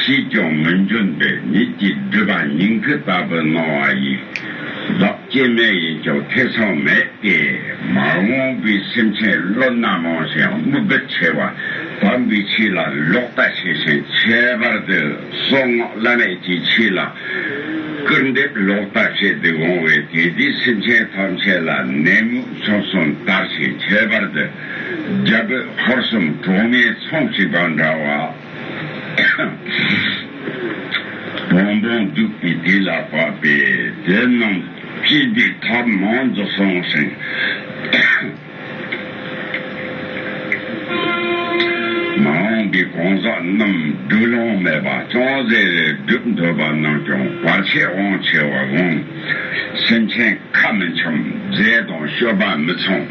ཞིག་ཀྱང་མི་འབྱུང་སྟེ་ཉིད་ཀྱི་སྒྲིབ་པ་སྙིང་གི་ལྟ་བུ་སྣང་བ་ཡིས། བདག་སྐྱེ་མེད་ཡིན་ཀྱང་ཐེ་ཚོམ་མེད་དེ། མ་འོངས་པའི་སེམས་ཅན་བློ་སྣ་མང་ཞིང་དམིགས་པ་ཆེ་བ་དམ་པའི་ཆོས་ལ་ལོག་ལྟ་ཆེ་ཞིང་ཁྱད་པར་དུ་གསང་སྔགས་བླ་མེད་ཀྱི་ཆོས་ལ་སྐུར་འདེབས་ལོག་ལྟ་བྱེད་དུ་འོང་བས་དེ་དུས་སེམས་ཅན་ཐམས་ཅད་ལ་ནད་མུག་ཆོམ་གསུམ་དར་ཞིང་ཁྱད་པར་དུ། རྒྱ་བོད་ཧོར་གསུམ་གྲོགས་མའི་ཚོགས་གཅིག་པ་འདྲ་བ། བོང་བུ་རྒྱུག་པའི་དུས་ལ་བབ་པས་དེ་རྣམས་སྤྱི་བདེ་ཐབས་མང་རྫོགས་སོང་ཞིང། མ་འོངས་པའི་གང་ཟག་རྣམས་སྡུག་སློང་མེད་པ་ཅུང་ཟད་རེ་བསྒྲུབ་འདོད་པ་རྣམས་ཀྱང་བར་ཆད་དབང་ཆེ་བར་དགོངས། སེམས་ཅན་ཁ་མི་འཆམ་རྫས་དང་བཤོས་པ་མི་འཚོང།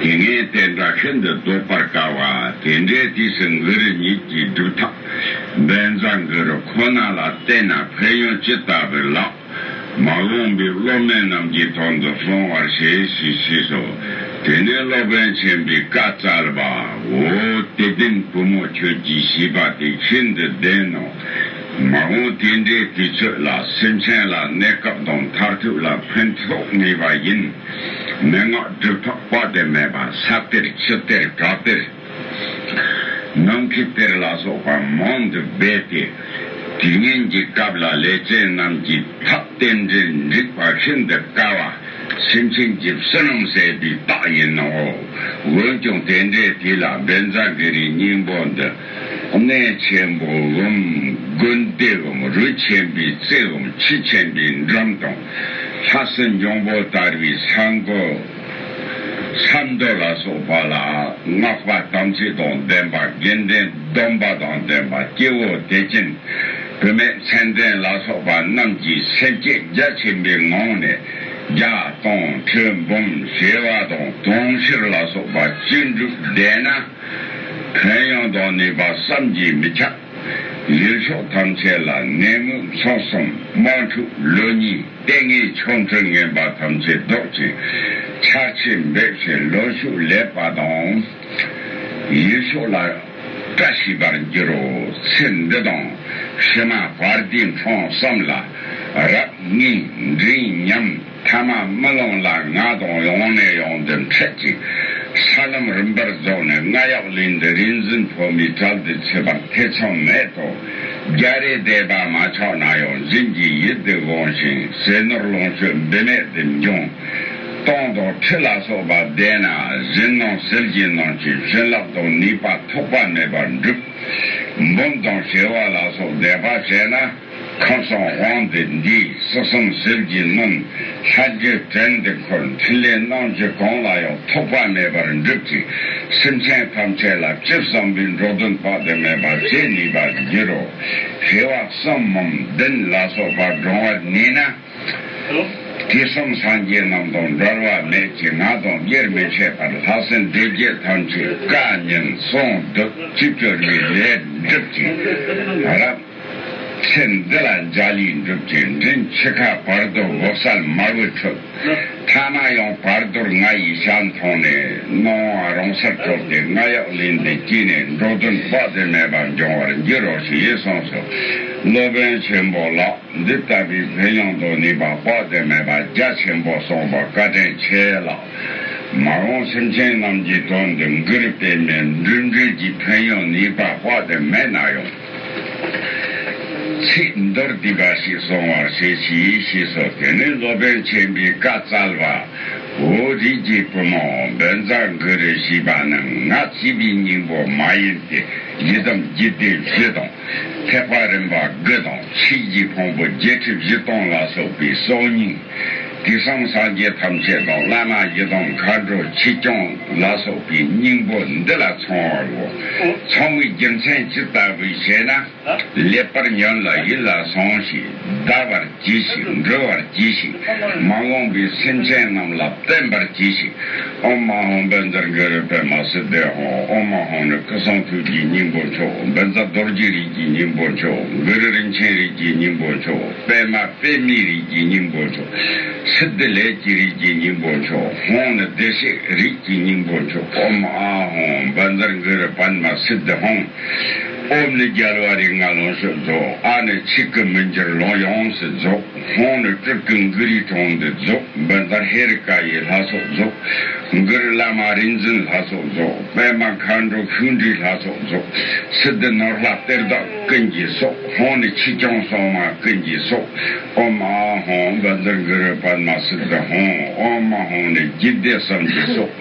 དེ་ནས་བསྟན་དགྲ་ཤིན་ཏུ་བཟློག་པར་དཀའ་བ་དེ་འདྲའི་དུས་སུ་འགུ་རུ་ཉིད་ཀྱི་སྒྲུབ་ཐབས་སྦལ་མཛའ་འགུ་རུ་ཁོ་ན་ལ་བསྟེན་ན་ཕན་ཡོན་ཅི་ལྟ་བུ་ལགས། མ་འོངས་པའི་སློབ་མའི་རྣམས་ཀྱི་དོན་དུ་སོང་བར་བྱས་ཞེས་ཤེས་སོ། དེ་ནས་སློབ་དཔོན་ཆེན་པོས་བཀའ་སྩལ་པ། འོ་དེ་བདུན་བུ་མོ་ཁྱོད་ཀྱིས་བྱིས་པ་དེ་ཤིན་ཏུ་བདེན་ནོ། མ་འོངས་དེ་འདྲའི་དུས་ཚོད་ལ་སེམས་ཅན་ལ་གནས་སྐབས་དང་མཐར་ཐུག་ལ་ཕན་ཐོགས་ངེས་པ་ཡིན། མན་ངག་སྒྲུབ་ཐབས་དཔག་ཏུ་མེད་པ་ས་གཏེར་ཆུ་གཏེར་བྲག་གཏེར། ནམ་མཁའི་གཏེར་ལ་སོགས་པ་མང་དུ་སྦས་ཏེ། དུས་ངན་གྱི་སྐབས་ལ་ལས་ཅན་རྣམས་ཀྱི་ཐབས་རྟེན་འབྲེལ་འགྲིག་པ་ཤིན་ཏུ་དཀའ་བ་སེམས་ཅན་གྱི་བསོད་ནམས་ཟད་པའི་རྟགས་ཡིན་ནོ། འོན་ཀྱང་དེ་འདྲའི་དུས་ལ་སྦེན་བཛྲ་གི་རིའི་སྙིང་པོ་འདི་གནས་ཆེན་པོའམ་དགོན་སྡེའམ་རུ་ཆེན་པོའི་རྩེའམ་ཁྱི་ཆེན་པོའི་འགྲམ་དང། ལྷ་སྲིན་འབྱུང་པོ་ལྟར་བའི་ས་འགོ། ཆབ་མདོ་ལ་སོགས་པ་ལ་སྔགས་པ་དམ་ཚིག་དང་ལྡན་པ་དགེ་འདུན་སྡོམ་པ་དང་ལྡན་པ་སྐྱེ་བོ་དད་ཅན་བུད་མེད་མཚན་ལྡན་ལ་སོགས་པ་རྣམས་ཀྱི་སེམས་བསྐྱེད་རྒྱ་ཆེན་པོའི་ངང་ནས་བརྒྱ་སྟོང་ཁྲི་འབུམ་བྱེ་བ་དང་དུང་ཕྱུར་ལ་སོགས་པ་བཅུ་དྲུག་བཟླས་ན། ཕན་ཡོན་དང་ནུས་པ་བསམ་གྱིས་མི་ཁྱབ། ཡུལ་ཕྱོགས་ཐམས་ཅད་ལ་ནད་མུག་མཚོ་གསུམ་དམག་འཁྲུག་ལོ་གཉིས་ལྟས་ངན་ཆོ་འཕྲུལ་ངན་པ་ཐམས་ཅད་བཟློག་ཅིང་ཆར་ཆེན་འབེབས་བྱེད་ལོ་ཕྱུགས་ལེགས་པ་དང། ཡུལ་ཕྱོགས་ལ་བཀྲ་ཤིས་པར་འགྱུར་རོ། ཚེ་འདི་དང་ཕྱི་མ་བར་དུས་མཚམས་བསམ་ལ་རབ་གནས་འབྲིང་ཉམས། མཐའ་མ་རྨི་ལམ་ལ་ང་དང་ཡང་ནས་ཡང་དུ་འཕྲད་ཅིང། ས་ལམ་རིམ་པར་རྫོགས་ནས་རྔ་ཡབ་གླིང་འདི་རིག་འཛིན་ཕོ་མོའི་གྲལ་དུ་ཆུད་པར་ཐེ་ཚོམ་མེད་དོ། རྒྱ་རི་སྡེ་པ་མ་ཆགས་ན་ཡང་སྦྱིན་གྱི་ཡིད་དུ་དགོངས་ཤིང་ཟས་ནོར་ལོངས་སྤྱོད་འབད་མེད་དུ་འབྱུང། སྟོང་དང་ཁྲི་ལ་སོགས་པ་བཟླས་ན་གཞན་སྣང་ཟིལ་གྱིས་གནོན་ཅིང་བྱིན་རླབས་དང་ནུས་པ་ཐོགས་པ་མེད་པར་འགྲུབ། འབུམ་དང་བྱེ་བ་ལ་སོགས་བཟླས་པ་བྱས་ན། ཁམས་སངས་དབང་སྡེ་འདི་སོ་གསུམ་ཟིལ་གྱིས་གནོན། ལྷ་རྒྱུད་བྲན་འདི་འཁོར་འཕྲིན་ལས་གནང་རྒྱུ་གང་ལ་ཡང་ཐོགས་པ་མེད་པར་འགྲུབ་ཅིང་སེམས་ཅན་ཐམས་ཅད་ལ་སྤྱིར་བསམ་པའི་འགྲོ་དོན་དཔག་ཏུ་མེད་པ་བྱེད་ནུས་པར་འགྱུར་རོ། ཧེ་བག་གསུམ་མམ་བདུན་ལ་སོགས་པ་འདྲོང་བར་གནས་ན། དུས་གསུམ་སངས་རྒྱས་རྣམས་དང་འགྲོར་བ་མེད་ཀྱི་ང་དང་དབྱེར་མི་ཕྱེད་པར་ལྷ་སྲིན་སྡེ་བརྒྱད་ཐམས་ཅད་བཀའ་ཉན་གསུང་བསྡུ་གཅིག་གྱུར་གྱི་ལས་འགྲུབ་ཅིང་རབ། ཚེ་འདི་ལ་འཇའ་ལུས་འགྲུབ་ཀྱི་མགྲིན་ཁྱི་ཁ་བར་དོར་འོབས་སལ་དམར་བོའི་ཁྲོད། ཐ་ན་ཡང་བར་དོར་ང་ཡི་ཞྭ་མཐོང་ནས་སྣང་བ་རང་སར་གྲོལ་ཏེ་རྔ་གཡག་ལིང་འདི་སྐྱིད་ནས་འགྲོ་དོན་དཔག་ཏུ་མེད་པ་འབྱུང་བར་འགྱུར་རོ་ཞེས་གསུངས་སོ། སློབ་དཔོན་ཆེན་པོ་ལགས་འདི་ལྟ་བུའི་བོན་ཡོངས་དང་ནུས་པ་དཔག་ཏུ་མེད་པ་རྒྱ་ཆེན་པོ་གསུངས་པ་བཀའ་དྲིན་ཆེ་ལགས། མ་འོངས་སེམས་ཅན་རྣམས་ཀྱི་དོན་དུ་འགུར་པའི་མེ་འབྲུམ་འགྲུལ་གྱི་བོན་ཡོངས་ནུས་པ་དཔག་ཏུ་མེད་ན་ཡང། ཚིག་མདོར་བསྡུས་པ་ཞིག་སོང་བར་བྱེད་ཀྱིས་ཞེས་སོ་དེ་ནི་སློབ་དཔོན་ཆེན་པོའི་བཀའ་སྩལ་པ། འོ་རིགས་ཀྱི་བུ་མོ་འབོད་མཛངས་དགུ་རུ་བྱས་པ་རྣམས་ང་བྱིས་པའི་སྙིང་པོ་མ་ཡིན་ཏེ་ཡི་དམ་བརྒྱུད་སྡེ་བཞི་དང་ཐེག་པ་རིམ་པ་དགུ་དང་ཆོས་རྒྱུད་ཕུང་པོ་བརྒྱད་ཁྲི་བཞི་སྟོང་ལ་སོགས་པའི་སྲོག་སྙིང་དུས་བཟང་སངས་རྒྱས་ཐམས་ཅད་དང་བླ་མ་ཡི་དམ་མཁའ་འགྲོ་ཆོས་སྐྱོང་ལ་སོགས་པའི་སྙིང་པོ་འདི་ལ་ཚང་བའོ། ཚང་བའི་རྒྱུ་མཚན་ཇི་ལྟ་བུས་ཞེ་ན། ལེགས་པར་ཉོན་ལ་ཡིད་ལ་ཟུང་ཞིག་བཟླ་བར་གྱིས་ཤིག་འབྲི་བར་གྱིས་ཤིག་མ་འོངས་པའི་སེམས་ཅན་རྣམས་ལ་བསྟན་པར་གྱིས་ཤིག་ཨོ་མ་ཧོ་འབེན་ཛར་གུ་རུ་པདྨ་སི་ཏི་ཧོ་ཨོ་མ་ཧོ་ནི་སྐུ་གསུང་ཐུགས་ཀྱི་སྙིང་པོ་མཆོག་འབེན་ཛར་རྡོ་རྗེ་རིགས་ཀྱི་སྙིང་པོ་མཆོག་གུ་རུ་རིན་ཆེན་རིགས་ཀྱི་སྙིང་པོ་མཆོག། པདྨ་པདྨའི་རིགས་ཀྱི་སྙིང་པོ་མཆོག། སི་ཏི་ལས་ཀྱི་རིགས་ཀྱི་སྙིང་པོ་མཆོག་ཧོང་ནི་བདེ་གཤེགས་རིགས་ཀྱི་སྙིང་པོ་མཆོག་ཨོམ་ཨ་ཧོང་བཱན་ཛར་མགི་རི་པདྨ་སི་ཏི་ཧོང། ཨོམ་ནི་རྒྱལ་བ་རིགས་ལྔ་ལོངས་སྤྱོད་རྫོགས་ཨ་ནི་ཆིག་གི་མི་འགྱུར་ལོངས་ཡོངས་སུ་རྫོགས་ཧོང་ནི་སྤྲུལ་སྐུ་མགི་རི་གྲོང་འདི་རྫོགས་བཱན་ཛར་ཧེ་རི་ཀ་ཡི་ལྷ་ཚོགས་རྫོགས་མགི་རི་བླ་མ་རིག་འཛིན་ལྷ་ཚོགས་རྫོགས་པདྨ་མཁའ་འགྲོ་ཤུགས་འདྲིས་ལྷ་ཚོགས་རྫོགས་སི་ཏི་ནོར་ལྷ་གཏེར་བདག་ཀུན་གྱི་སྲོག། ཧོང་ནི་ཆིག་རྐྱང་སོག་མ་ཀུན་གྱི་སོག་ཨོ་མ་ཨ་ཧོང་པ་འདིར་གུ་རུ་པདྨ་སིད་དྷ་ཧོང་ཨོ་མ་ཧོང་ནི་རྒྱུད་སྡེ་གསུམ་གྱི་སོག།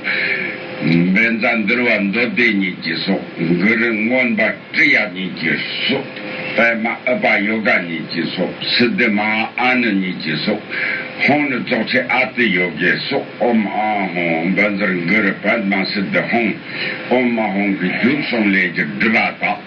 འབེན་ཛ་འདུལ་བ་མདོ་སྡེ་གཉིས་ཀྱི་སོག་གུ་རུ་མངོན་པ་ཀྲི་ཡ་གཉིས་ཀྱི་སོག་པདྨ་ཨུ་པ་ཡོ་ག་གཉིས་ཀྱི་སོག་སིད་དྷི་མ་ཨ་ནི་གཉིས་ཀྱི་སོག་ཧོང་ནི་རྫོགས་ཆེན་ཨ་ཏི་ཡོ་གའི་སོག་ཨོ་མ་ཨ་ཧོང་པ་འདིར་གུ་རུ་པདྨ་སིད་དྷ་ཧོང་ཨོ་མ་ཧོང་གི་རྒྱུད་གསུམ་ལས་ཀྱི་སྒྲུབ་པ་དག།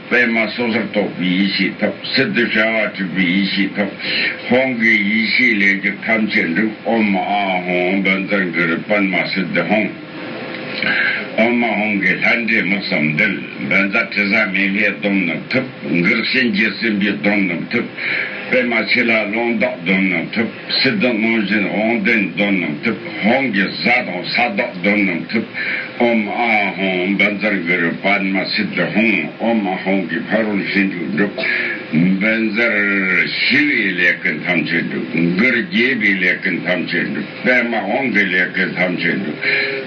པད་མ་སོ་སོར་རྟོག་པའི་ཡེ་ཤེས་ཐོབ། སི་ཏུ་ཤ་བ་དྲུག་པའི་ཡེ་ཤེས་ཐོབ། ཧོང་གི་ཡེ་ཤེས་ལས་རྒྱུ་ཐམས་ཅད་འགྲུབ། ཨོ་མ་ཨ་ཧོང་འདོན་རྩ་འགྱུར་པད་མ་སི་ཏུ་ཧོང། ཨོ་མ་ཧོང་གི་ལྷ་འདྲེ་མི་བསམ་འདུལ། འདོན་རྩ་དྲི་ཟ་མེ་ལྷའི་སྡོམ་རྣམས་ཐོབ། འགགས་གཤིན་རྗེ་སྲིན་པོའི་སྡོམ་རྣམས་ཐོབ། པད་མ་ཆོས་ལྷ་ཀློང་བདག་སྡོམ་རྣམས་ཐོབ། སྲིད་དུ་སྔོན་བཞིན་འོང་བདེན་གདོན་རྣམས་ཐུབ། ཧོང་གི་གཟའ་དང་ས་བདག་གདོན་རྣམས་ཐུབ། ཨོམ་ཨ་ཧོང་འབར་འཛར་གུ་རུ་པདྨ་སིད་དུ་ཧོང། ཨོམ་ཨ་ཧོང་གི་ཕ་རོལ་ཤིན་དྲུག་འགྲུབ། འབར་འཛར་ཞི་བའི་ལས་ཀུན་ཐམས་ཅད་འགྲུབ། འགུར་རྒྱས་པའི་ལས་ཀུན་ཐམས་ཅད་འགྲུབ། པདྨ་དབང་གི་ལས་ཀུན་ཐམས་ཅད་འགྲུབ།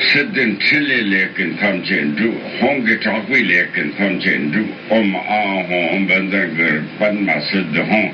སྲིད་དུ་འཕྲིན་ལས་ལས་ཀུན་ཐམས་ཅད་འགྲུབ། ཧོང་གི་གྲགས་པའི་ལས་ཀུན་ཐམས་ཅད་འགྲུབ། ཨོམ་ཨ་ཧོང་འབར་འཛར་གུ་རུ་པདྨ་སིད་དུ་ཧོང།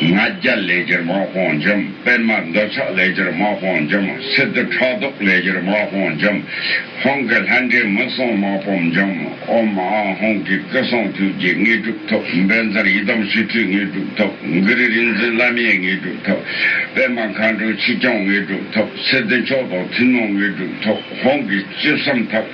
ལྔ་བརྒྱ་ལས་སྒྱུར་དམག་དཔུང་འཇོམས་དཔོན་མ་འདོད་ཆགས་ལས་སྒྱུར་དམག་དཔུང་འཇོམས་སི་ཏུ་ཕྲག་དོག་ལས་སྒྱུར་དམག་དཔུང་འཇོམས་ཧོང་གི་ལྷ་འདྲེ་མི་གསུང་དམག་དཔུང་འཇོམས་ཨོ་མ་ཨང་ཧོང་གི་སྐུ་གསུང་ཐུགས་རྗེ་དངོས་གྲུབ་ཐོབ་འབེལ་མཚར་ཡི་དམ་ཞི་ཁྲོའི་དངོས་གྲུབ་ཐོབ་མགུ་རི་རིག་འཛིན་བླ་མའི་དངོས་གྲུབ་ཐོབ་པད་མ་མཁའ་འགྲོ་ཆིག་རྐྱང་དངོས་གྲུབ་ཐོབ་སི་ཏུ་མཆོག་ཐོག་ཐུན་མོང་དངོས་གྲུབ་ཐོབ་ཧོང་གི་བཅུ་གསུམ་ཐབས།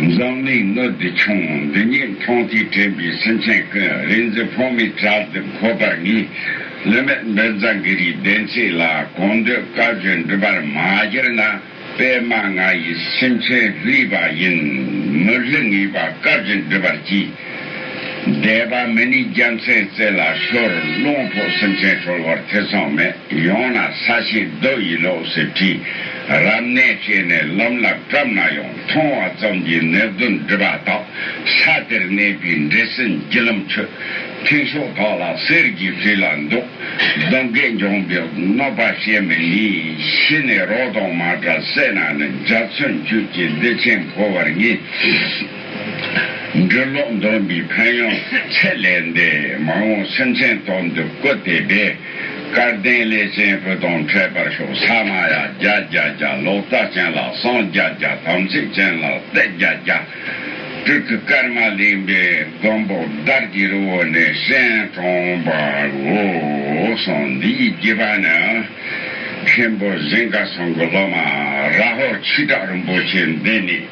འཛམ་གླིང་ནུབ་བདེ་ཆུང་འདི་ཉིད་མཐོང་ཐོས་དྲན་པའི་སེམས་ཅན་ཀུན་རིག་འཛིན་འཕོ་མེད་གྲལ་བསྡེབས་འཁོར་བར་ངེས། བསླུ་མེད་འབེལ་རྫ་འགུལ་རིའི་བདེན་ཚིག་ལ་གང་འདོད་བཀའ་བརྗོད་འགྲུབ་པར་མ་གྱུར་ན་པདྨ་ང་ཡི་སེམས་ཅན་བསླུས་པ་ཡིན་མི་བསླུ་ངེས་པ་བཀའ་བརྒྱུད་འགྲུབ་པར་གྱིས། འདས་པ་མི་ནི་རྒྱ་མཚན་རྩེ་ལ་ཤོར་རླུང་ཕོག་སེམས་ཅན་གྲོལ་བར་ཐེ་ཚོམ་མེད་ཡོང་ན་ས་ཞིང་རྡོ་ཡི་ལོགས་སུ་བྲིས་རབ་གནས་བྱས་ནས་ལམ་ལ་བཀྲམ་ན་ཡང་མཐོང་བ་ཙམ་གྱིས་ནད་གདོན་སྒྲིབ་པ་དག་ས་དེར་གནས་པའི་འདྲེ་སྲིན་བརྒྱུད་ལམ་ཆུ་འཐེན་ཤོག་དག་ལ་གསེར་གྱི་བྷི་ལ་འདུག་གདོན་བགེགས་འཇོམས་པའི་གནོད་པ་ཤེས་མི་ནུས་ཤི་ནས་རོ་དང་མ་འདྲ་བསད་ན་ནི་འཇའ་ཚོན་བཅུད་ཀྱི་བདེ་ཆེན་འཕོ་བར་ངེས། འབྲི་ཀློག་འདོན་པའི་ཕན་ཡོན་ཚད་ལས་འདས་མ་འོངས་སེམས་ཅན་དོན་དུ་བཀོད་དེ་སྦས། སྐལ་ལྡན་ལས་ཅན་བུ་དང་འཕྲད་པར་ཤོག་ས་མ་ཡ་བརྒྱ་བརྒྱ་བརྒྱ་ལོག་ལྟ་ཅན་ལ་སངས་བརྒྱ་བརྒྱ་དམ་ཚིག་ཅན་ལ་སྟེག་བརྒྱ་བརྒྱ། སྤྲུལ་སྐུ་ཀརྨ་གླིང་པའི་མགོན་པོ་དར་གྱི་རི་བོ་ནས་གཤེན་གྲོང་པའོ། གསུངས་འདི་ཡི་རྒྱུད་པ་ནི། མཁན་པོ་གཟིངས་ཀ་ཚང་གི་སློབ་མ་རཱ་ཧོ་ཆིག་ཁྲག་རིན་པོ་ཆེ་འདི་ནས།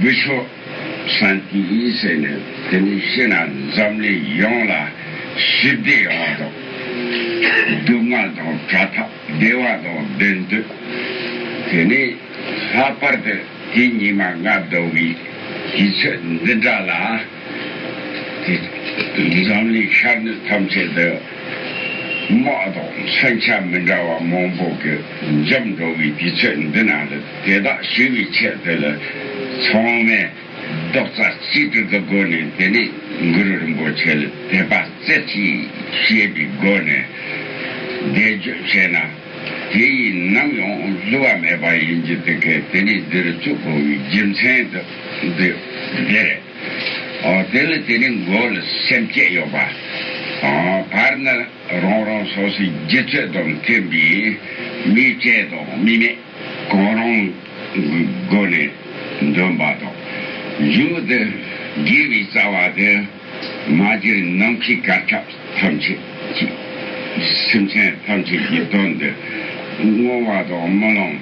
བུ་ཤོ་ཧྲན་ཏི་ཡིས་ཟེར་ནས་དེ་ནས་ཤི་ན་འཛམ་གླིང་ཡོངས་ལ་ཞི་བདེ་ཡོང་བ་དང། སྡུག་བསྔལ་དང་བྲ་ཐག་བདེ་བ་དང་བདེན་དོན། དེ་ནས་ལྷག་པར་དུ་དེ་ཉིན་མ་ལྔ་བདོ་བའི་དུས་ཚོད་འདི་འདྲ་ལ། འཛམ་གླིང་ཤར་ནུབ་ཐམས་ཅད་དུ་དམག་དང་ས་ཆ་མི་འདྲ་བ་མང་པོ་གི་འཇོམས་འགྲོ་བའི་དུས་ཚོད་འདི་ན་ལ་དེ་དག་ཞི་བའི་ཆེད་དུ་ལ་ཚང་མས་རྡོག་རྩ་གཅིག་སྒྲིལ་གྱི་སྒོ་ནས་དེ་ནས་གུ་རུ་རིན་པོ་ཆེ་ལ་དད་པ་རྩེ་གཅིག་བྱེད་པའི་སྒོ་ནས་བཟླས་བརྗོད་བྱས་ན། དེ་ཡིས་ནམ་ཡང་བཟོད་བ་མེད་པ་ཡིན་གྱི་དེ་ཁས་དེ་ནི་འདིར་བཅུག་གོ་བའི་རྒྱུ་མཚན་དུ་འདོད་དེ། དེ་ལ་དེ་ནི་མགོ་ལ་སེམས་བསྐྱེད་ཡོད་པ། བར་ན་རང་རང་སོ་སོའི་རྒྱུད་ཚོད་དང་མཐུན་པའི་མིའི་སྐྱེ་དང་མི་མེད་གང་རུང་གི་སྒོ་ནས་འདོན་པ་དང། མཇུག་ཏུ་དགེ་བའི་རྩ་བ་དེ། མ་གཞིར་ནམ་མཁའི་སྐར་ཆགས་ཐམས་ཅད་ཀྱིས་སེམས་ཅན་ཐམས་ཅད་ཀྱི་དོན་དུ་བསྔོ་བ་དང་སྨོན་ལམ།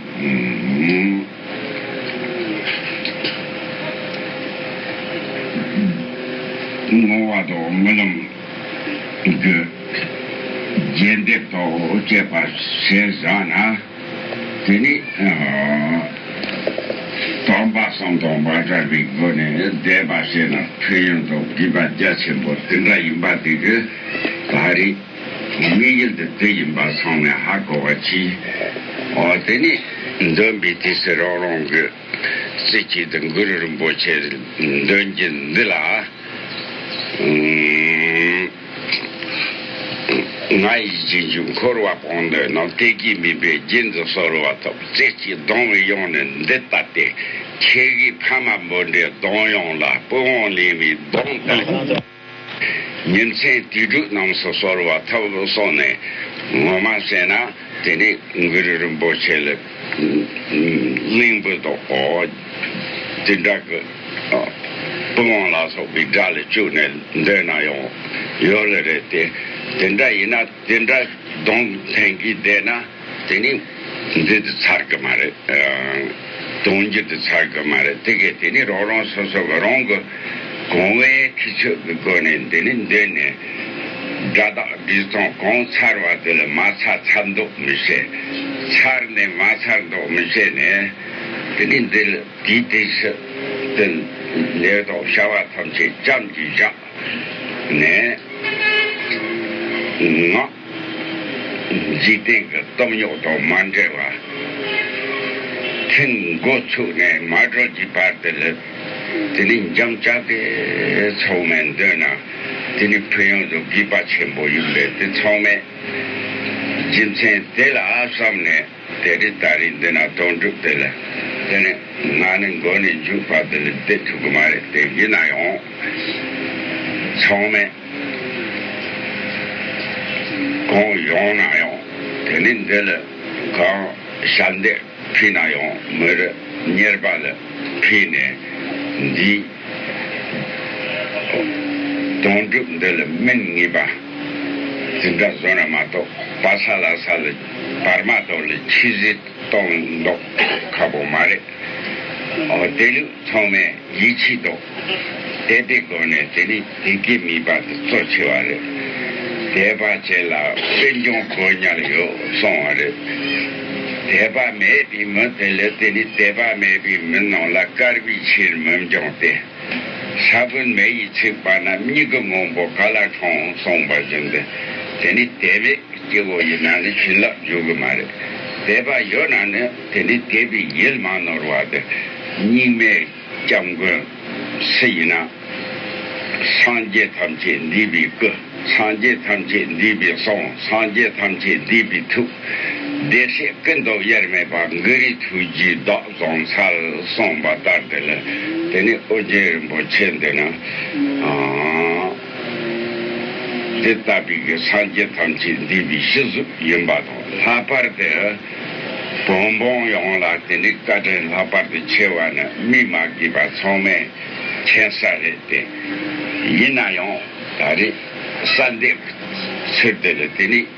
བསྔོ་བ་དང་སྨོན་ལམ་གྱི་རྒྱས་འདེབས་དང་བཅས་པར་བྱས་བཞག་ན། དེ་ནས་དོན་པ་གསུམ་དང་མ་འདྲ་བའི་སྒོ་ནས་བཟླས་པ་བྱས་ན་ཕན་ཡོན་དང་དགེ་བ་རྒྱ་ཆེན་པོ་དེ་འདྲ་ཡིན་པ་དེ་གི་ད་རེས་དམིགས་ཡུལ་འདི་དེ་ཡིན་པ་ཚང་མས་ཧ་གོ་བར་གྱིས། དེ་ནས་འདོན་པའི་དུས་སུ་རང་རང་གི་རྩེ་གཅིག་ཏུ་གུ་རུ་རིན་པོ་ཆེ་འདོན་གྱིས་འདི་ལ། ང་ཡི་རྗེས་འཇུག་འཁོར་བ་གང་འདོད་རྣམས་གཏད་ཀྱིས་མིན་པའི་རྒྱུན་དུ་གསོལ་བ་ཐོབ་རྩེ་གཅིག་གདོང་བའི་དབྱངས་ནི་འདི་ལྟ་སྟེ། ཁྱེད་ཀྱི་ཕ་མ་འབོད་འདྲའི་གདོང་དབྱངས་ལ་སྤོས་དབང་ལེན་བའི་གདོང་ལྟ་བུ། ཉིན་མཚན་དུས་དྲུག་རྣམས་སུ་གསོལ་བ་ཐོབ་སོང་ནས་ངོ་མ་བསྲེགས་ན་དེ་ནི་འགུ་རུ་རིན་པོ་ཆེ་ལས། གླིང་བུ་དང་བོ། དེ་འདྲ་གི། པུ་ཝང་ལ་སོགས་པའི་སྒྲ་ལ་བཅུག་ནས་འདོན་ན་ཡང་ཡོད་ལ་རེད་དེ། དེ་འདྲ་ཡིན་ན་དེ་འདྲ་གདོན་ཕྲན་གྱིས་བསྡད་ན་དེ་ནི་འདི་དུ་ཚར་གི་མ་རེད། དོན་སྒྱུ་དུ་ཚར་གི་མ་རེད་དེ་གས་དེ་ནི་རང་རང་སོ་སོ་གི་རང་གི། གོང་བས་ཁྱུ་ཚོགས་ཀྱི་སྒོ་ནས་འདི་ནས་འདི་ནས་སྒྲ་དག་སྒྲིག་སྟངས་གང་ཚར་བ་དེ་ལ་མ་ཚར་ཚར་འདོགས་མི་བྱེད། ཚར་ནས་མ་ཚར་འདོགས་མི་བྱེད་ནས། དེ་ནས་འདི་ལ་དེའི་དེ་ཕྱི་དེ་འདི་དང་བྱ་བ་ཐམས་ཅད་ཅམ་གྱིས་བཞག་ནས། ངག། འཇིག་རྟེན་གྱི་སྟོབས་རྙོག་དང་མ་འབྲེལ་བར། ཐེངས་མགོ་ཚུགས་ནས་མ་གྲོལ་གྱི་བར་དུ་སླེབས། དེ་ནི་འཇམ་དཔྱད་དེ་ཚང་མས་འདོད་ན་དེ་ནི་ཕན་ཡོན་དུ་དགོས་པ་ཆེན་པོ་ཡིན་པས་དེ་ཚང་མས་རྒྱུ་མཚན་དེ་ལ་བསམ་ནས། དེ་དུས་ད་རེས་འདི་ན་དོན་གྲུབ་དེ་ལ་དེ་ནི་ང་ནི་མགོ་ནས་མཇུག་བར་དུ་ལ་བསྡད་ཐུབ་གི་མ་རེད་དེ་ཡིན་ན་ཡང་ཚང་མས་གང་ཡོང་ན་ཡང་དེ་ནི་འདི་ལ་གང་ཞབས་འདེགས་ཕུལ་ན་ཡང་མི་རུ་གཉེར་པ་ལ་ཕུལ་ནས་འདིའི་དོན་གྲུབ་འདི་ལ་སྨིན་ངེས་པ་འཛིན་གྲྭ་བཟོ་ན་མ་གཏོགས་པ་ས་ལ་ས་ལ། བར་མ་དོར་ལས་ཆུད་ཟོས་གཏོང་མདོག་ཁ་པོ་མ་རེད། དེ་ལུགས་ཚང་མས་ཡིད་ཆེས་མདོག་དེ་དེ་དགོས་ནས་དེ་ནི་དེ་གའི་མིས་པ་དེ་གཙོ་ཆེ་བ་རེད། དེས་པ་བྱས་ལ་དཔེ་འཇོག་དགོས་ཉར་ཡོད་སོང་བ་རེད། དེས་པ་མེད་པའི་མི་དེ་ལས་དེ་ནི་དེས་པ་མེད་པའི་མི་རྣམས་ལ་དཀར་བའི་ཕྱིར་མི་འཇོག་སྟེ། ས་བོན་མེ་ཡིས་ཚིག་པ་ན་མྱིག་གི་སྔོན་པོ་ག་ལ་དྲོངས་གསུངས་པ་བཞིན་དུ་དེ་ནི་དད་པའི་སྐྱེ་བོ་ཡིན་ན་ནི་བྱིན་རླབས་འཇུག་གི་མ་རེད། དད་པ་ཡོད་ན་ནི་དེ་ནི་དད་པའི་ཡུལ་མ་ནོར་བ་དེ་སྙིགས་མའི་སྐྱབས་མགོན་སུ་ཡིན་ན་སངས་རྒྱས་ཐམས་ཅད་འདུས་པའི་སྐུ་སངས་རྒྱས་ཐམས་ཅད་འདུས་པའི་གསུང་སངས་རྒྱས་ཐམས་ཅད་འདུས་པའི་ཐུགས། བདེ་གཤེགས་སྐུ་མདོག་དབྱེར་མེད་པ་འགུ་རི་ཐུགས་རྒྱུའི་བདག། གོང་ས་ལ་གསུངས་པ་ལྟར་དེ་ལ་དེ་ནས་ཨོ་རྒྱན་རིན་པོ་ཆེ་འདི་ན་དེ་ལྟ་བུའི་གི་སངས་རྒྱས་ཐམས་ཅད་འདུས་པའི་གཞི་གཟུགས་ཡིན་པ་དང་ལྷག་པར་དུ་བོན་འབངས་ཡོངས་ལ་དེ་འདྲའི་བཀའ་དྲིན་ལྷག་པར་དུ་ཆེ་བ་ནི་སྨིས་མ་དགོས་པ་ཚང་མས་མཁྱེན་ས་རེད་དེ། ཡིན་ན་ཡང་ད་རེས་གསར་འདེབས་ཚུལ་དེ་ལ་དེ་ནས།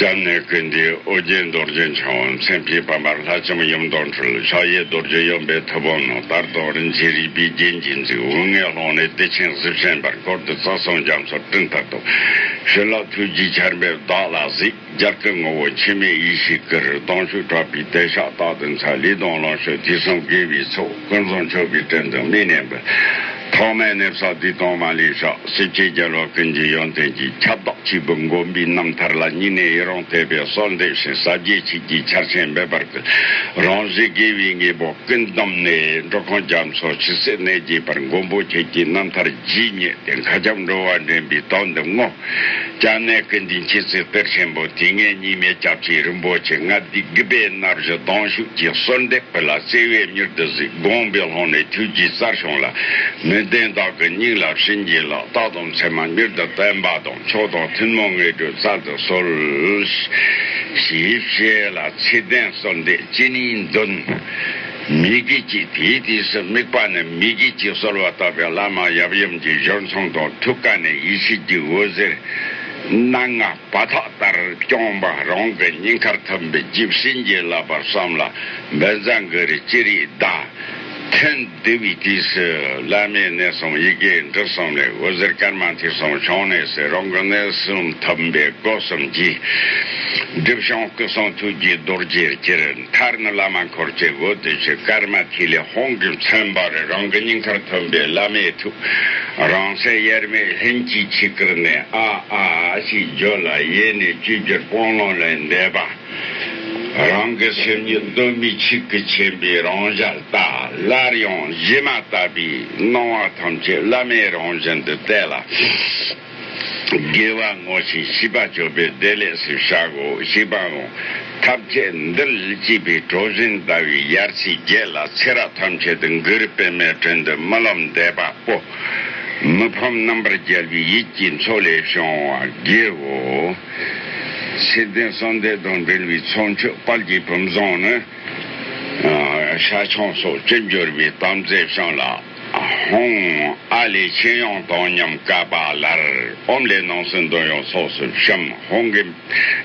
འཇམ་ནེ་ཀུན་འདུས་ཨོ་རྒྱན་རྡོ་རྗེ་འཆང་བ་མཚན་དཔྱིད་བར་མར་ལྷ་ལྕམ་ཡུམ་མདོག་འཕྲུལ་ཕྱག་གཡས་རྡོ་རྗེ་གཡོན་པས་ཐུབ་དབང་ནོར་དར་དང་རིན་ཆེན་རིག་པའི་རྒྱན་གྱིས་འཛིན་དབུ་སྔས་ལྷོ་ནས་བདེ་ཆེན་གཟི་བྱིན་པར་བསྐོར་ཏེ་རྩ་གསུམ་རྒྱ་མཚོར་སྤྲིན་ལྟར་དུ་ཞུ་ལ་ཐུགས་ཀྱི་ཆར་འབེབས་བདག་ལ་གཟིགས་རྒྱལ་ཀུན་ངོ་བོ་འཆི་མེད་ཡེ་ཤེས་ཀྱི་རི་དྭགས་ཤུགས་དྲག་པའི་དལ་ཞགས་དག་ཏུ་འཚལ་ལི་སྡོང་ལང་ཤོད་དུས་གསུམ་དགེ་བའི་ཚོགས་ཀུན་བཟང་མཆོད་པའི་སྤྲིན་དུ་མི་གནས་འབུལ། ཐོག་མའི་གནས་བསགས་བསྡུས་གཏོང་མ་ལུས་ཤོག་སྲིད་སྤྱི་རྒྱལ་བ་ཀུན་གྱི་ཡོན་ཏན་གྱི་ཁྱབ་བདག་གཅིག་པུ་མགོན་པོའི་རྣམ་ཐར་ལ་སྙིང་ནས་ཡི་རང་བརྟས་པའི་གསོལ་འདེབས་ཤིང་ཟབ་རྒྱས་ཆིག་བརྒྱའི་ཆར་ཆེན་འབེབས་པར་སྐུལ། རང་བཞིན་དགེ་བའི་དངོས་པོ་ཀུན་བསྡོམས་ནས་འགྲོ་ཁོང་རྒྱ་མཚོ་ཇི་སྲིད་གནས་བརྒྱད་པར་མགོན་པོ་ཁྱེད་ཀྱི་རྣམ་ཐར་ཇི་སྙེད་དེ་མཁའ་ཁྱབ་འགྲོ་བ་འདྲེན་པའི་དོན་དུ་བསྔོ། རྒྱ་ནག་གི་འདི་འཁྱིལ་ཚུལ་གཏེར་ཆེན་པོ་དེ་སྔའི་རྙིང་མའི་སྐྱབས་རྗེ་རིན་པོ་ཆེ་ལྔ་སྡེ་དགུ་པའི་སྣ་བཞི་གདོང་ཞུགས་ཀྱི་གསོལ་འདེབས་ཕུལ་ལ་བརྩེ་བས་མྱུར་དུ་གཟིགས་དགོངས་པའི་ལྷོངས་ནས་ཐུགས་ཀྱི་རྩར་ཤོང་ལ། མི་བདེན་དག་གི་སྙིང་ལ་བྱིན་གྱིས་ལག་རྟགས་དང་མཚན་མ་མྱུར་དུ་བསྟན་པ་དང་མཆོག་དང་ཐུན་མོང་ངེས་དགྲོལ་རྩལ་དུ་གསོལ། ཞེས་བཤད་ལ་ཚིག་ལྡན་གསོལ་འདེབས་ཅི་ནུས་འདོན། མི་དགེ་གཅིག་དེའི་དུས་སུ་དམིགས་པ་ནི་མི་དགེ་གཅིག་གསོལ་བ་བཏབ་པའི་བླ་མ་ཡབ་ཡུམ་གྱི་གཞུར་མཚུངས་དང་ཐུགས་ཀ་ནས་ཡེ་ཤེས་ཀྱི་འོད་ཟེར་སྣ་ལྔ་བ་ཐག་ལྟར་བསྐྱངས་པ་རང་གི་སྙིང་ཁར་ཐིམ་པས་རྗེ་བྱིན་གྱིས་བརླབས་པར་བསམ་ལ་འབད་མཛངས་ཀྱི་རིགས་ཅི་རིགས་བཟླ། ཐུན་བསྡུ་བའི་དུས་སུ་བླ་མའི་གནས་གསུམ་ཡི་གེ་འབྲུ་གསུམ་ལས་འོད་ཟེར་སྐར་མ་ཐིག་གསུམ་བྱང་གནས་སུ་རང་གི་གནས་གསུམ་ཐིམ་པས་སྒོ་གསུམ་གྱི། སྒྲིབ་བྱང་སྐུ་གསུང་ཐུགས་ཀྱི་རྡོ་རྗེར་གྱུར། མཐར་ནི་བླ་མ་འཁོར་བཅས་བོད་སྡེ་བཞི་སྐར་མ་ཐིག་ལེ་ཧོང་གིས་མཚོན་པ་རེད་རང་གི་སྙིང་ཁར་ཐོན་པའི་བླ་མའི་ཐུགས་རང་གསལ་དབྱེར་མེད་ལྷན་སྐྱེས་ཆིག་ཁར་ནས་ཨ་ཨ་ཞིག་བརྗོད་ལ་ཡེ་ནས་བཅོས་བསྒྱུར་སྤོང་ཀློང་ལས་འདས་པ་རང་གི་སེམས་ཉིད་གདོད་མའི་ཆིག་གི་མཁྱེན་པའི་རང་ཞལ་ལྟ་སླར་ཡང་གཞི་མ་ལྟ་བུའི་སྣང་བ་ཐམས་ཅད་བླ་མའི་རང་བཞིན་དུ་བལྟས་ལ། དགེ་བ་བསྔོ་ཞིང་ཤིས་པ་སྦྱོར་བའི་བདེ་ལེགས་སུ་བཞག་གོ་ཞེས་པའོ། ཐབས་ཆེ་འདིར་ལུས་སྐྱིད་པའི་གྲོ་བཞིན་ཟླ་བའི་ཡར་ཚེས་བརྒྱད་ལ་ཚེ་རབས་ཐམས་ཅད་དུ་འགུལ་རིས་པད་མའི་དྲུང་དུ་རྨི་ལམ་བདེ་བ་སྤོ། མི་ཕམ་རྣམ་པར་རྒྱལ་བའི་ཡིད་ཀྱི་མཚོ་ལས་བྱུང་བ་དགེའོ། ཚེ་བརྟན་གསང་མདོས་དང་འབྲེལ་བའི་ཚོགས་མཆོད་དཔལ་གྱི་བུམ་བཟང་ནི། ཤ་ཆང་སོགས་ཅི་འབྱོར་བའི་དམ་རྫས་བཤམས་ལ། ཧཱུྃ། ཨཱ་ལས་མཆན་ཡང་དང་མཉམ་བཀའ་པ་ལར་ཨོམ་ལས་ནང་སྲིད་འདོན་ཡོང་སོགས་སུ་བཤམ། ཧཱུྃ་གི་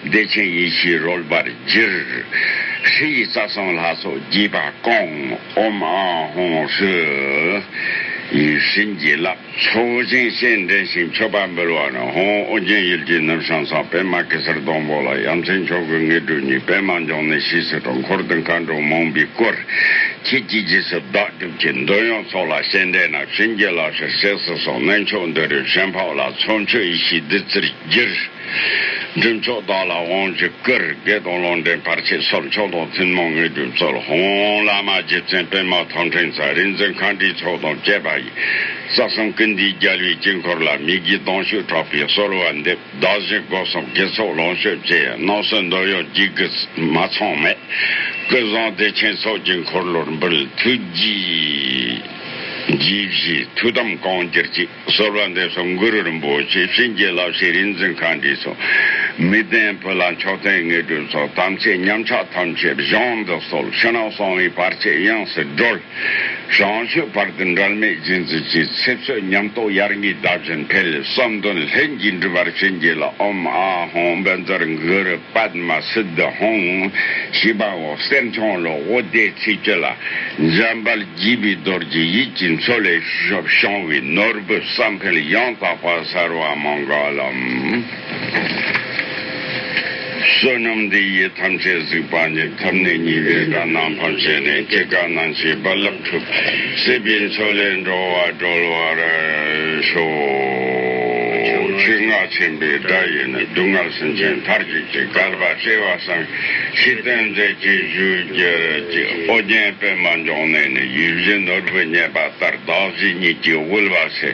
བདེ་ཆེན་ཡེ་ཤེས་རོལ་པར་གྱུར། ཧྲཱི་ཡིས་རྩ་གསུམ་ལྷ་ཚོགས་དགྱེས་པ་བསྐང། ཨོམ་ཨཱ་ཧཱུྃ་ཧྲཱི། ཡིད་བཞིན་བགྱི་བརླབས་ཚོགས་ཆེན་བཤད་འགྲེལ་ཞིང་མཆོད་པ་འབུལ་བ་ནི་ཧཱུྃ་ཨོ་རྒྱན་ཡུལ་གྱི་ནུབ་བྱང་གསང་པད་མ་གེ་སར་སྡོང་པོ་ལ་ཡ་མཚན་མཆོག་གི་ངེས་གྲུབ་གཉིས་པད་མ་འབྱུང་གནས་ཕྱིས་སུ་དྲུང་འཁོར་དུ་མཁའ་འགྲོ་མང་པོའི་སྐོར་གྱི་དཀྱིལ་རྗེས་སུ་བདག། གྱི་འདོད་ཡོན་ཚོགས་ལ་ཞལ་འདེབས་ན་ཆོས་འགྱེད་ལག་ཤེར་ཟས་སུ་སོགས་སྨན་མཆོག་འདི་རུ་ཞལ་འཕགས་ལ་ཚོགས་མཆོད་ཡེ་ཤེས་བདུད་རྩིར་བསྒྱུར། སྒྲུབ་མཆོག་བདག་ལ་དབང་བཞི་བསྐུར་བགེགས་དང་ལོག་འདྲེན་བར་ཆད་སོགས་མཆོག་དང་ཐུན་མོང་དངོས་གྲུབ་སྩོལ། ཧོང་ཧོང་བླ་མ་རྗེ་བཙུན་སྤེལ་མ་ཐང་ཕྲེང་ཚ་རིག་འཛིན་མཁའ་འགྲོའི་ཚོགས་དང་བཅས་པ་ཡི། རྩ་གསུམ་ཀུན་འདུས་རྒྱལ་བའི་དཀྱིལ་འཁོར་ལ་མི་དགེའི་སྡང་ཞུགས་དྲག་པོས་གསོལ་བ་འདེབས། བདག་བཞིན་སྒོ་གསུམ་དགེ་ཚོགས་ལོངས་སྤྱོད་ཀྱི་སྣང་ཚུལ་འདོད་ཡོན་བགྱིད་དགོས་ཚུལ་མ་ཚང་མེད་སྐུ་གསུང་བདེ་ཆེན་ཚོགས་ཀྱི་འཁོར་ལོར་འབུལ་ཐུགས་རྗེས་གཞིས་བཞིའི་ཐུགས་དམ་གང་གྱུར་ཅིག་གསོལ་བ་འདེབས་སོ་མགུ་རུ་རིན་པོ་ཆེ་བྱིན་གྱིས་བརླབས་ཤིག་རིག་འཛིན་མཁའ་འདྲའི་ཚོགས། མི་ལྡན་བུ་ལ་མཆོག་ལྡན་དངོས་གྲུབ་ཚོགས་དམ་ཚིག་ཉམས་ཆག་ཐམས་ཅད་གཞོམ་དུ་གསོལ་ཕྱི་ནང་གསང་བའི་བར་ཆད་དབྱིངས་སུ་སྒྲོལ། རང་ཆོས་བར་དུ་འགྲལ་མེད་སྦྱིན་བསྲེག་ཅིག་ཚེ་བསོད་ཉམས་རྟོགས་ཡར་ངེས་ཟླ་བཞིན་འཕེལ་བསམ་དོན་ལྷན་གྱིས་འགྲུབ་པར་བྱིན་གྱིས་ལ་ཨོམ་ཨ་ཧོང་འབེན་རྩར་འགུལ་པདྨ་སིདྡྷ་ཧོང་ཞེས་པ་འོག་གསེར་མཆོང་ལོ་ཧོ་བརྡའི་ཚིག་བཅད་ལ་འཇམ་དཔལ་བགྱིས་པའི་རྡོར་གྱི་ཡིད་ཀྱི་མཚོ་ལས་བྱུང་བའི་ནོར་བུ་བསམ་འཕེལ་ཡང་དག་པ་གསར་བ་མང་ག་ལ། བསོད་ནམས་འདི་ཡིས་ཐམས་ཅད་གཟིགས་པ་ནི་ཐབས་ནི་གཉིས་པའི་དགའ་སྣང་ཕམ་བྱས་ནས་སྐྱེ་རྒ་ན་འཆིའི་རྦ་རླབས་འཁྲུག། སྲིད་པའི་མཚོ་ལས་འགྲོ་བ་སྒྲོལ་བར་ཤོག། ཆེ་བསྔགས་ཆེན་པོའི་བརྡ་ཡིས་ནི་སྡུག་བསྔལ་སེམས་ཅན་མཐར་གྱིས་ཀྱི་བསྐལ་པ་བསྐྲད་བར་བསམ། ཕྱིས་སྟོན་མཛད་ཀྱི་བཞུགས་རྒྱུད་ཀྱི་ཨོ་རྒྱན་པདྨ་འབྱུང་གནས་ནས་ཡུལ་བཞི་ནོར་བུ་རྙེད་པ་ལྟར་བདག་བཞི་ཉིད་ཀྱིས་དབུལ་བ་ཚེ།